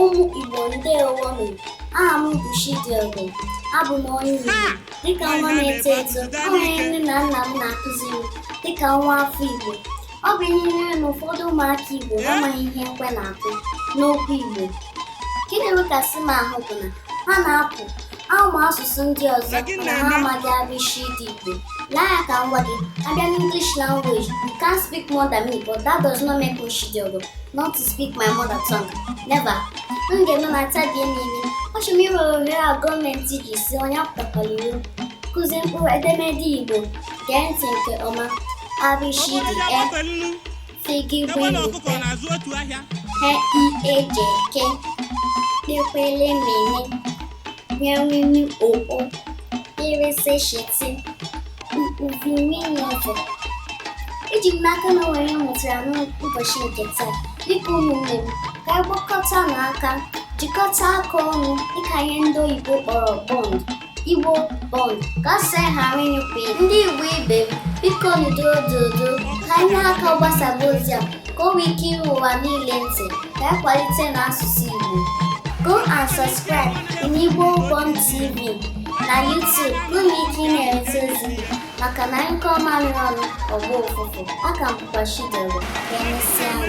ụmụ Igbo ndewo nụ aha m bụ Chidiogo abụ m onye Igbo dịka nwa na-eto eto o nwere nne na nna m na-akụziri m dịka nwa afọ Igbo ọ bụ ihe ihere na ụfọdụ ụmụaka Igbo amaghị ihe ekwe na-akụ n'okwu Igbo nke na-ewekasị m ahụ bụ na ha na-apụ Amụ asụsụ ndị ọzọ mana ha amaghị abịchịdị Igbo. Lee ya ka m gwa gị, abịa n'English language, you can't speak more than me, but that does not make Chidiogo not to speak my mother tongue. Never. M ga-eme ma tabie n'imi. Achọrọ m iwere ohere a gọọmenti ji sị onye apụtakwala iro. Kụzie mkpụrụ edemede Igbo. Gee ntị nke ọma. A bị chị dị e. figi egbe na ọkụkọ wele na-azụ otu ahịa he i eje ke kpekwele mene nyawini oo irese shiti uvi nwunye ọzọ eji m n'aka na o nwere ihe m mụtara n'ụbọchị nke taa dịka ụmụnne m ka anyị gbakọta n'aka jikọta aka ọnụ dịka ihe ndị oyibo kpọrọ bond Igbo Bond ka sị ghara ịnyụpụ ndị Igbo ibe m biko doo doo doo ka ị nye aka gbasaba ozi a ka o nwee ike iru ụwa niile ntị ka anyị kwalitenụ asụsụ Igbo go and subscribe in Igbo Bond TV na YouTube ka unu nwee ike ịna-enweta ozi maka na a nyụkọọ mamịrị ọnụ ọ gbọọ ụfụfụ aha m bụkwa Chidiogo ka emesịanụ